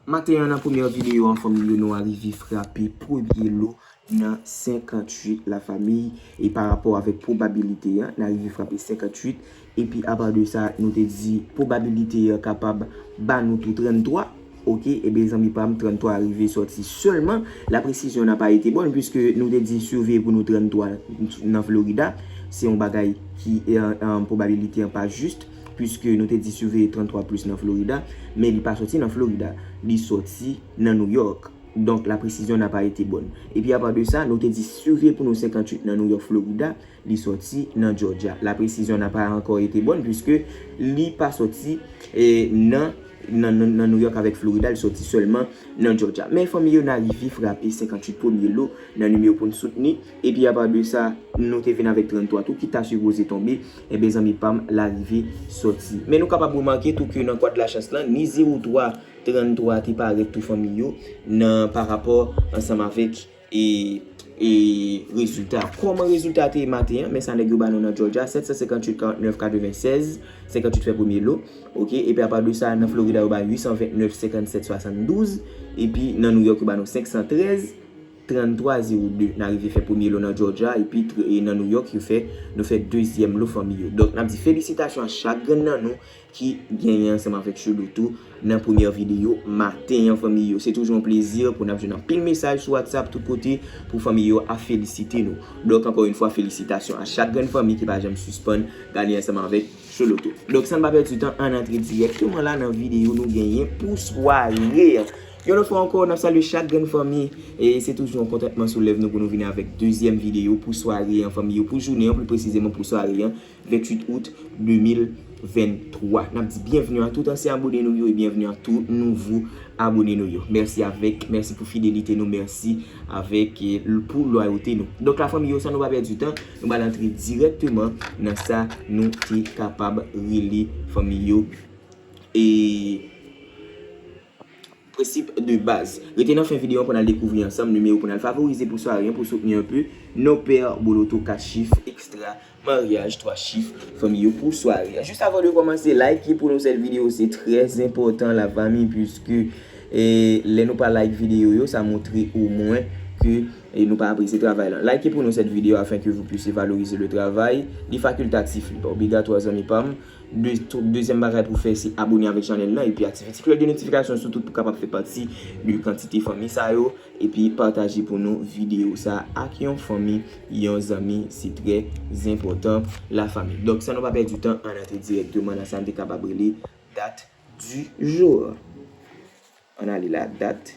Maten an nan premyè videyo an fanmi Yono a rive frape premye lo nan 58 la fanmi e pa rapò avèk pwobabilite an nan rive frape 58 epi apa de sa nou te di pwobabilite an kapab ba nou tou 33 ok ebyen zanmi pa m 33 a rive sòti sèlman la presizyon nan pa ete bòn pwiske nou te di siveye pou nou 33 nan Florida se yon bagay ki pwobabilite an pa jis. Puiske nou te di suveye 33 plus nan Florida, men li pa soti nan Florida. Li soti nan New York. Donk la presizyon na pa ete bòn. Epi apa de sa, nou te di suveye pou nou 58 nan New York, Florida, li soti nan Georgia. La presizyon na pa ankò ete bòn puiske li pa soti nan nan New York avèk Florida, li soti sèlman nan Georgia. Men fanmi yo na rive frape 58 premye lo nan nimewo pou n soutni. Epi apa de sa nou te vin avèk 33 tou ki ta sipoze tonbe, enben zanmi pa m la rive sòti. Men nou kapab remake tou ke nan kwadlachans lan, ni 0 3, 33 a te parèt tou fanmi yo nan pa rapò ansanm avèk e e rezilta. Kòman rezilta a te ye maten an, men sa nèg yo ba nou nan Jòjya, 758 49 96, 58 fè premye lo, ok, epi apa de sa nan Florida yo ba 829 57 72, epi nan Nouyòk yo ba nou 513. 33 0 2 na rive fè premye lo nan Georgia epi nan New York yo fè nou fè dezyèm lo fanmi yo donk nap di felisitasyon a chak grenn nan nou ki genyen ansanm avèk Shlodo tou nan premyè video maten an fanmi yo se toujou yon plezi pou nap jwenn anpil mesaj sou WhatsApp tout kote pou fanmi yo ap felisite nou donk ankò yon fwa felisitasyon a chak grenn fanmi ki pa janm sispann gade ansanm avèk Sholodo donk san pa pèdi tan ann antre dirèkteman la nan video nou genyen pou sware a. Yon lòt fwa ankò, n ap salye chak grenn fanmi. E se toujou yon kontantman sou lèv nou pou nou vini avèk dezyèm videyo pou sware an fanmi yo, pou jounen an pli presizeman pou sware an 28 out 2023. N ap di byenvni a tout ansyen abone nou yo e byenvni a tout nouvo abone nou yo. Mèsi avèk, mèsi pou fidelite nou, mèsi avèk e pou lwayote nou. Donk la fanmi yo san nou pa pèdi tan, nou pral antre dirèkteman nan sa nou te kapab rele fanmi yo e. Prensip de baz. Rete nan fen videyo an pou n al dekouvri ansanm nimewo pou n al favorize pou swa ren pou soutni anpe non pè boloto 4 chif ekstra maryaj 3 chif fanmi yo pou sware an jis avan de kòmanse like pou nou sèl videyo se trè zenpòtan la fanmi piske lè nou pa like videyo yo sa montre o mwen ke nou pa apresye travay lan like pou nou sèt videyo afenke vou pwise valorize le travay li fakultatif li pa obligatwa zanmi pa m. Dezyèm bagay pou fè se abone avèk chanèl lan epi aktive ti klòch de notifikasyon sou tout pou kapab fè pati de kantite fanmi sa yo epi pataje pou nou videyo sa ak yon fanmi yon zanmi se trè zenpòtan la fanmi donk san nou pa pèdi tan ann antre dirèkteman nan sa n te kapab rele dat di jou ann ale la dat.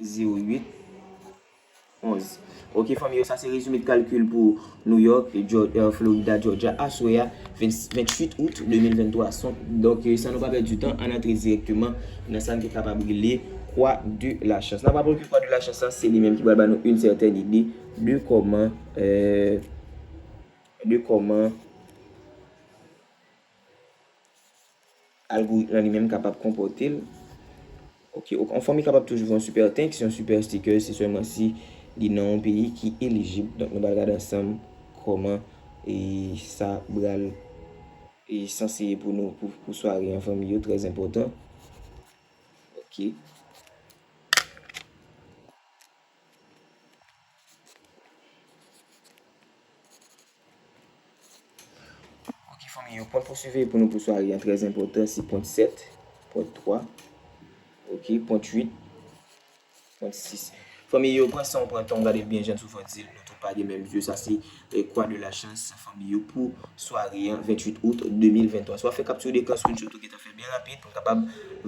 08, 11. Ok fanmi yo sa se rezime kalkil pou New York, Florida, Georgia aswè a 28 Out 2023. Donk san nou pa pèdi tan ann antre dirèkteman nan sa n te kapab rele Kwa de la Chans. N ap rapple ke Kwa de la Chans lan se li menm ki pral ba nou yn sètèn ide de kòman de kòman. Algoritm lan li menm kapab konpòte l. Ok, yon fanmi kapab toujou gen yon super thanks, yon super sticker se sèlman si li nan yon peyi ki elijib. Donk nou pral gade ansanm kòman e sa pral e sanse ye pou nou pou sware an fanmi yo trè enpòtan. Ok. Ok fanmi yo, pwen pou siveye pou nou pou sware an trèz enpòtan se pwen 7, pwen 3, ok, pwen 8, pwen 6. Fanmi yo, pwen san ou pwen tan ou gade l byen jan sou fòt zil nou tout pa gen menm zye sa se. Croix de la chance fanmi yo pou sware an 28 out 2023 swa fè capture d'écran screenshot ou gentan fè byen rapid pou n kapab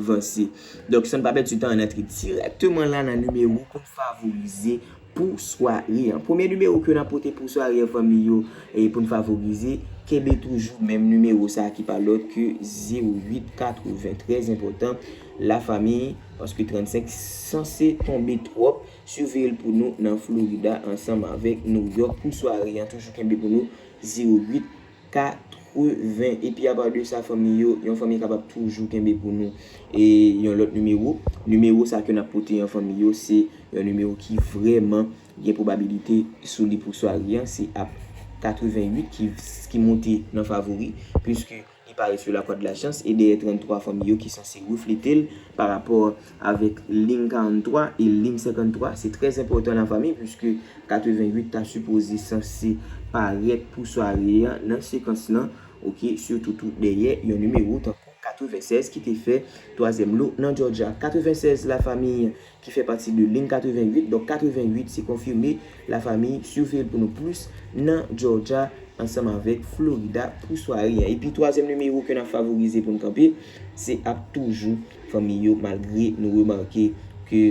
vanse donk san n pa pèdi tan ann antre dirèkteman la nan nimewo pou n favorize pou sware an premye nimewo ke n ap pote pou sware an fanmi yo pou n favorize kenbe toujou menm nimewo sa ki pa lòt ke 08 80 trèzenpòtan la fanmi paske 35 sanse tonbe twòp. Suveye l pou nou nan Florida ansanm avèk New York pou sware an toujou kenbe pou nou 08 80 epi apa de sa fanmi yo yon fanmi kapab toujou kenbe pou nou e yon lòt nimewo nimewo sa ke nap pote an fanmi yo se yon nimewo ki vrèman gen pwobabilite sou li pou sware an se ap 88 ki ki moute nan favori puiske Li pare sou lakwà de la chans e dèyè 33 fanmi yo ki sanse reflete l pa rapò avèk lim 43 e lim 53 se trè enpòtan nan fanmi puiske 88 ta sipoze sanse parèt pou sware a nan sekans lan ok sitou tou dèyè yon nimewo tankou 96 ki te fè twazyèm lo nan Jòjya 96 la fanmi ki fè pati de Lin 88 donk 88 se konfime la famiy siveyel pou nou plis nan Georgia ansanm avèk Florida pou sware an epi twazyèm nimewo ke nap favorize poun kanpe se ap toujou fanmiy yo malgre nou remake ke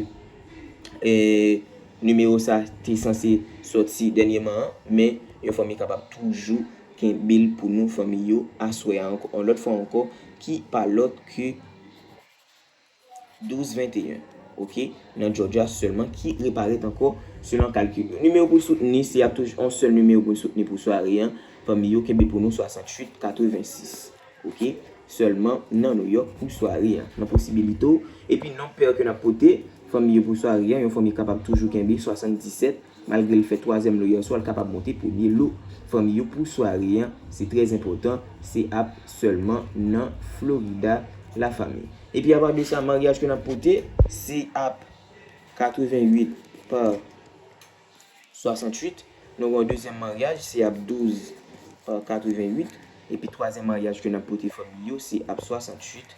nimewo sa te sanse sòti dènyeman an men yon fanmiy kapab toujou kenbel pou nou fanmiy yo aswè a ankò yon lòt fwa ankò ki pa lòt ke. 12 21 ok nan Georgia sèlman ki reparèt ankò selon kalkil yo. Nimewo pou soutni se ap toujou yon sèl nimewo pou n soutni pou sware an pami yo kenbe pou nou 68 86 ok sèlman nan Nouyòk pou sware an nan posibilite w epi nonb pè ke n ap pote fanmi yo pou sware an yon fanmi kapab toujou kenbe 77 Malgre l fè twazyèm lo yèswa, l kapab monte premye lo fanmi yo pou sware an, se trè enpòtan, se ap sèlman nan Florida la fanmi. Epi apa de sa maryaj ke n ap pote se ap 88 pa 68, nou gen yon dezyèm maryaj se ap 12 pa 88, epi twazyèm maryaj ke n ap pote fanmi yo se ap 68.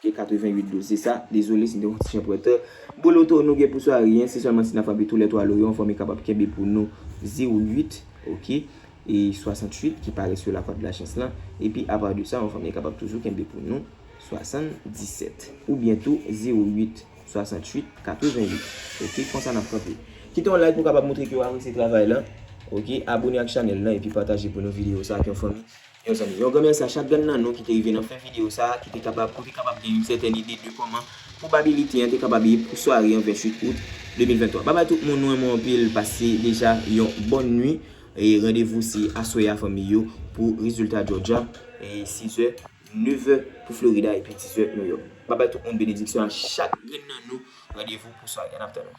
Ok 88 dous se sa. Dezole si m te pran ti chen prete. Boloto nou gen pou swa ryen se selman si na frape tou le 3 loyon anfòm e kapab kenbe pou nou 08 ok e 68 ki pare sou la kòd la chans lan epi apa de sa anfòm e kapab toujou kenbe pou nou 77 ou byen tou 08 68 88 ok konsa nap kanpe. Kite yon like pou kapab moutre ke ou apresye travay lan ok abone ak chanel lan epi pataje pou nou video sa ak yon fanmi Yon zanmi. Yon gran mèsi a chak grenn nan nou ki te rive nan fen video sa a, ki te kapab, ou te kapab gen yon sètèn ide de kòman pwobabilite an te kapab ye pou sware an 28 out 2023. Babay tout moun, nou renmen w anpil, pase deja yon bòn nwi e randevou se aswè a fanmi yo pou rezilta Georgia e 6 è, 9 è pou Florida epi 10 è New York. Babay tout moun benediksyon a chak grenn nan nou, randevou pou sware a n ap tann ou.